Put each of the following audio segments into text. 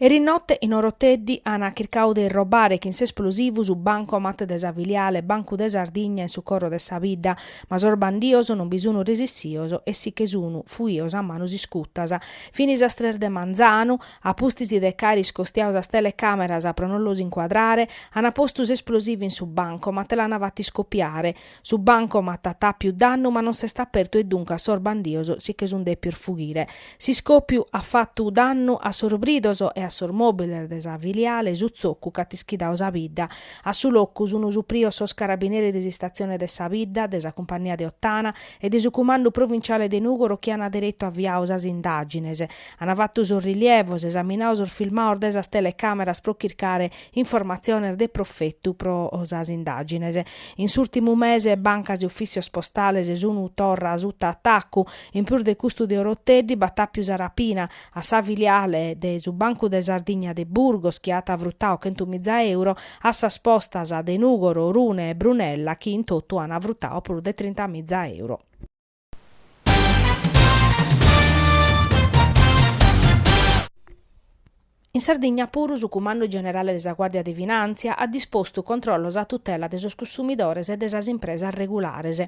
Eris note in Oroteddi an chircadu de irrobare chin s'esplosivu su bancomat de sa filiale Bancu de Sardigna in su coro de sa bidda, ma sos bandios non bi sun resissios e si che sun fuios a manos iscutas. Fin sas tres de manzanu, a pustis de ch'aer iscostiadu sas telecameras pro non los incuadrare, an postu s'esplosivu in su bancomat e l'an fatu iscopiare. Su bancomat at apiu dannu ma non s'est apertu e duncas sos bandios si che sun depios fughire. S'iscòpiu at fatu dannu a sos bridos e a sos mòbiles de sa filiale, su tzocu ch'at ischidadu sa bidda. A su locu sun suprios sos carabineris de s'istatzione de sa bidda, de sa cumpannia de Ottana e de su cumandu provinciale de Nùgoro chi an deretu aviadu sas indàgines. An fatu sos rilievos, esaminadu sos filmados de sas telecàmeras pro chircare Informatziones de profetu pro sas indàgines. In s'ùrtimu mese bancas e ufìssios postales sun torra suta atacu. In prus de custu de Oroteddi b'at àpiu sa rapina a sa filiale de su Bancu de Sardigna de Burgos chi at frutadu chentu miza euro, a sas postas de Nùgoro, Orune e Brunella chi in totu an frutadu prus de trinta miza euro. In Sardigna puru su Cumandu Generale de sa Guàrdia de Finàntzia at dispostu controllos a tutela de sos cussumidores e de sas impresas regulares.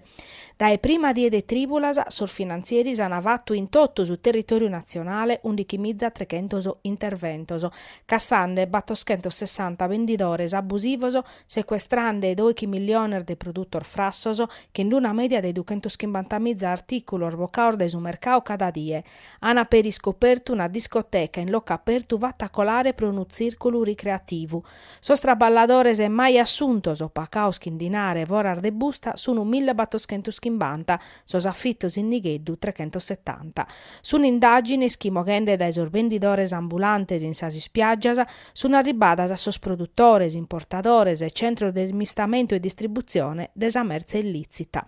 Dae prima die de trìbulas sos finantzieris an fatu in totu su territòriu natzionale undichimiza trechentos interventos, cassande batoschentos sessanta bendidores abusivos secuestrande doighi milliones de produtos frassos chin d'una mèdia de duchentos chimbanta miza artìculos bocados dae su mercadu cada die, ant peri iscopertu una discoteca in locu apertu fata colare pro unu tzìrculu ricreativu. Sos traballadores mai assuntos o pagados chin dinare foras de busta sunt mille battoschentos chimbanta, sos afitos in nigheddu trechentos setanta. Sunt indàgines chi moghende dae sos bendidores ambulantes in sas ispiàgias, Sunt arribbadas a sos produtores, importadores e centros de smistamentu e distributzione de sa mertze illìtzita.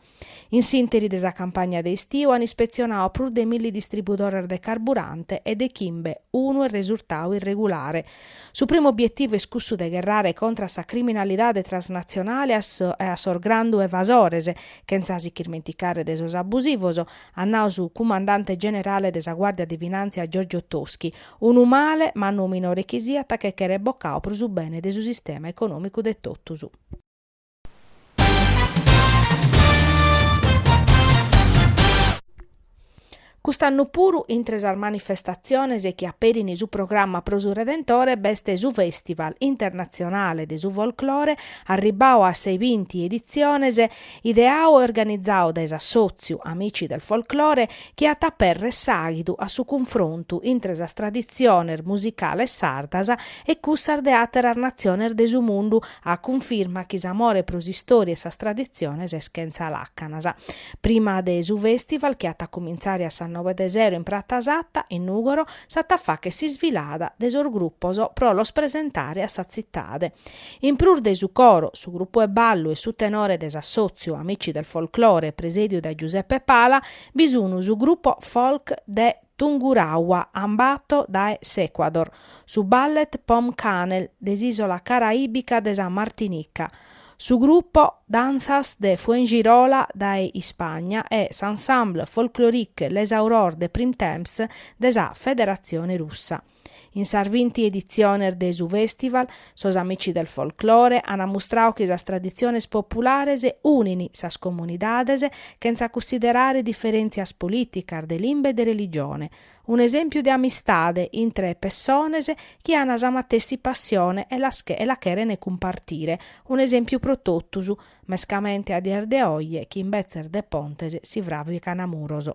In s'ìnteri de sa campagna de istiu an ispetzionadu prus de milli distribudores de carburante e de chimbe unu est resurtadu irregulare. Su primu obietivu est cussu de gherrare contra a sa criminalidade transnatzionale e a sos grandu evasores, chentza si ch'irmenticare de sos abusivos, at nadu su cumandante generale de sa Guàrdia de Finàntzia Giorgio Toschi, Unu male, mannu o minore chi siat, che cheret bocadu pro su bene de su sistema econòmicu de totus. Cust'annu puru, intre sas manifestatziones chi aperin su programma pro su Redentore, b'est su Fèstival internatzionale de su folclore, arribbadu a sas binti editziones, Ideau e organizau dae s'Assòtziu Amici del Folklore chi at a apèrrere s'àghidu a su cunfrontu intre sas traditziones musicales sardas e cussas de àteras natziones de su mundu, a cunfirma chi s'amore pro s'istòria e sas traditziones est chentza làcanas. Prima de su fèstival chi at a cumintzare a sas noe de sero in Prata Satta, in Nùgoro, s'at a fàghere s'isfilada de sos grupos pro los presentare a sa tzitade. In prus de su coro, su grupu 'e ballu e su tenore de s'assòtziu Amici del Folklore presèdiu dae Giuseppe Pala bi sun su grupo folk de Tungurahua Ambato dae s'Ecuador, su Ballet Pomme Cannelle de s'ìsola caraìbica de sa Martinica, su grupo Danzas de Fuengirola dae Ispagna e s'Ensemble Folklorique Les Aurores de Printemps de sa Federatzione Russa. In sas binti editziones de su fèstival, sos Amici del Folklore ant mustradu chi sas traditziones populares unin sas comunidades chentza cussiderare diferèntzias polìticas, de limba e de religione. Un'esèmpiu de amistade intre pessones chi ant sa matessi passione e la cherent cumpartire, un'esèmpiu pro totus, mescamente a dies de oje chi imbetzes de pontes si fràvicant muros.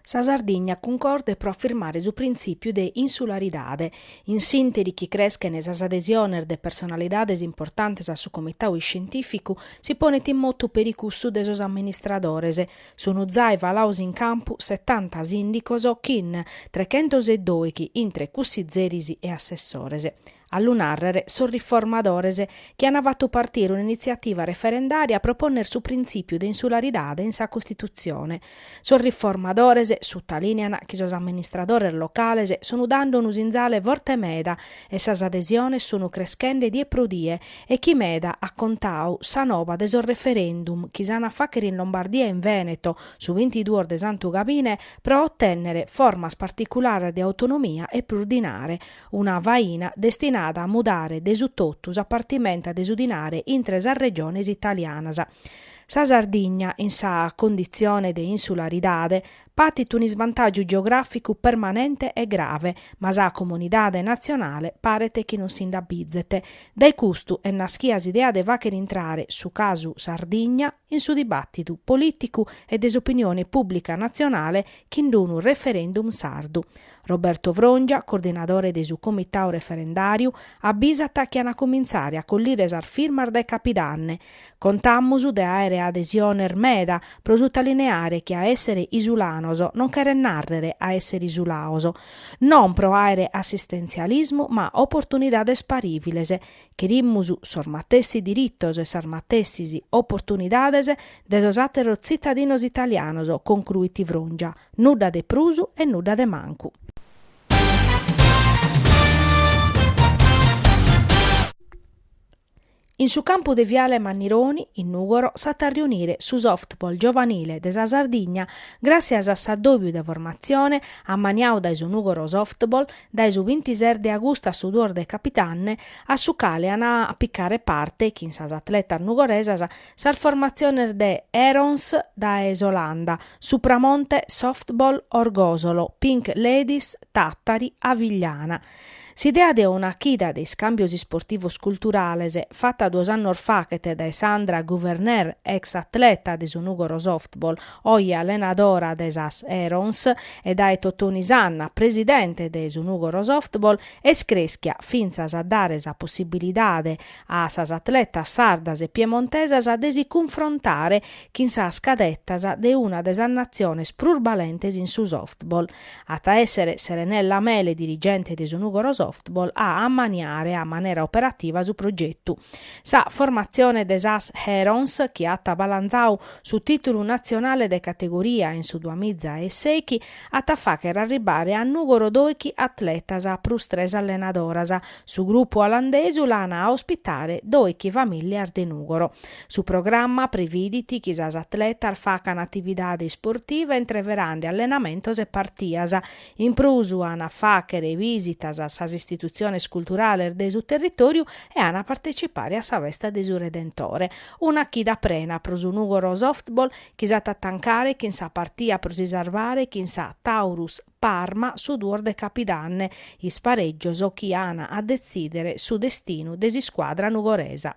Sa Sardigna cuncorde pro afirmare su printzìpiu de insularidade, in s'ìnteri chi creschent sas adesiones de personalidades importantes a su Comitadu Iscientìficu, si ponet in motu peri cussu de sos amministradores. Sunt zai falados in campu setanta sìndicos chin trechentos e dòighi intre cussizeris e assessores. a lu nàrrere sos riformadores chi ant fatu partire un'initziativa referendària pro pònnere su printzìpiu de insularidade in sa Costitutzione. Sos riformadores sutalìnean chi sos amministradores locales sun dande unu sinzale forte meda e sas adesiones sun creschende die pro die e chi meda at contadu sa nova de sos referendum chi s'an a fàghere in Lombardia e in Vèneto su bintiduos de Santu Gabine pro otènnere formas particulares de autonomia e prus dinare una faina destinada a mudare de su totu sa partimenta de su dinare intre sas regiones italianas. Sa Sardigna, in sa conditzione de insularidade, patit un'isvantàgiu geogràficu permanente e grave, ma sa comunidade natzionale paret chi non si nd'abizet. Dae custu est naschida s'idea de fàghere intrare su casu Sardigna, in su dibàtidu polìticu e de s'opinione pùblica natzionale chin d'unu referendum sardu. Roberto Frongia, coordinadore de su comitadu referendàriu, abbisat chi an a comintzare a collire sas firmas dae capidanne, Contamus de àere adesiones meda, pro sutalineare chi a èssere isulanos non cheret nàrrere a èssere isulados. Non pro àere assistentzialismu ma oportunidades parìviles, Cherimus sos matessi diritos e sas matessis oportunidades de sos àteros tzitadinos italianos, concruit Frongia, nudda de prus e nudda de mancu. In su campu de Viale Mannironi, in Nùgoro, s'at a riunire su softball giovanile de sa Sardigna, gràssias a s'addòbiu de formatzione ammaniadu dae su Nùgoro Softball dae su bintises de agustu a su duos de capitanne, a su cale an a picare parte, chin sas atletas nugoresas, sas formatziones de Herons dae s'Olanda, Supramonte Softball Orgosolo, Pink Ladies Tàtari e Avigliana. S'idea de una chida de iscàmbios isportivos culturales, fata duos annos faghet dae Sandra Gouverneur, ex atleta de su Nùgoro Softball, Oi allenadora de sas Herons e dae Totoni Sanna presidente de su Nùgoro Softball, est crèschia fintzas a dare sa possibilidade a sas atletas sardas e piemontesas de si cunfrontare chin sas cadetas de una de sas natziones prus balentes in su softball. At a èssere Serenella Mele dirigente de su Nùgoro Softball a ammaniare a manera operativa su progetu. Sa formatzione de sas Herons, chi at balantzadu Su tìtulu natzionale de categoria in su duas miza e sechi at a fàghere arribare a Nùgoro doichi atletas a prus tres allenadoras. Su grupu olandesu l'an a ospitare doichi famìllias de Nùgoro. Su programma previdit chi sas atletas facan atividade isportiva intreverande allenamentos e partias. In prus an a fàghere bìsitas a sas istitutziones culturales de su territòriu e an a partetzipare a sa festa de su Redentore. Una chida prena pro su Nùgoro Softball chi s'at a tancare chin sa partia pro si sarvare chin sa Taurus Parma su duos de capidanne, isparègios chi an a detzìdere su destinu de s'iscuadra nugoresa.